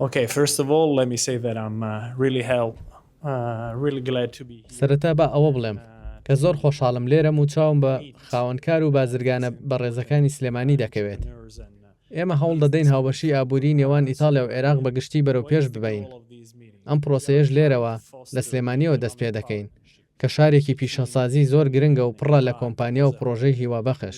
ئۆکەی فیرست ئۆف ئۆڵ لێت می سەی دات ئەم ریلی هێڵ ریلی گلاد تو بی هیە. سەرەتا با ئەوە بڵێم کە زۆر خۆشحاڵم لێرەم و چاوم بە خاوەنکار و بازرگانە بەڕێزەکانی سلێمانی دەکەوێت. ئێمە هەوڵ دەدەین هاوبەشی ئابووری نێوان ئیتاڵیا و عێراق بە گشتی بەرەو پێش ببەین. ئەم پرۆسەیەش لێرەوە لە سلێمانیەوە دەست پێ دەکەین کە شارێکی پیشەسازی زۆر گرنگە و پڕە لە کۆمپانیا و پڕۆژەی هیوابەخش.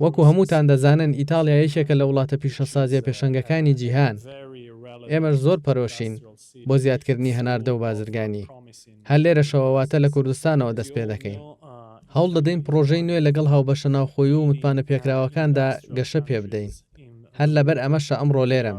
وەکو هەمووتان دەزانن ئیتاڵیا یەکێکە لە وڵاتە پیشەسازیە پێشەنگەکانی جیهان، ئێمەش زۆر پەرۆشین بۆ زیادکردنی هەناردە و بازرگانی، هەر لێرەشەوە واتە لە کوردستانەوە دەست پێدەکەین. هەوڵ دەدەین پڕۆژەی نوێ لەگەڵ هاوبەشە ناوخۆیی و متمانەپێکراوەکاندا گەشە پێبدەین، هەر لەبەر ئەمەشە ئەمڕۆ لێرەم.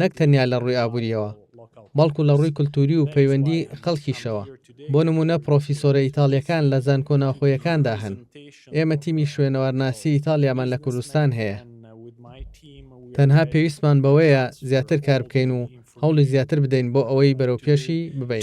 نەک تەنیا لە ڕووی ئابوورییەوە، بەڵکو لە ڕووی کولتووری و پەیوەندی خەڵکیشەوە، بۆ نموونە پڕۆفیسۆرە ئیتاڵییەکان لە زانکۆ ناوخۆیەکاندا هەن، ئێمە تیمی شوێنەوارناسی ئیتاڵیامان لە کوردستان هەیە، تەنها پێویستمان بەوەیە زیاتر کار بکەین و هەوڵی زیاتر بدەین بۆ ئەوەی بەرەوپێشی ببەین.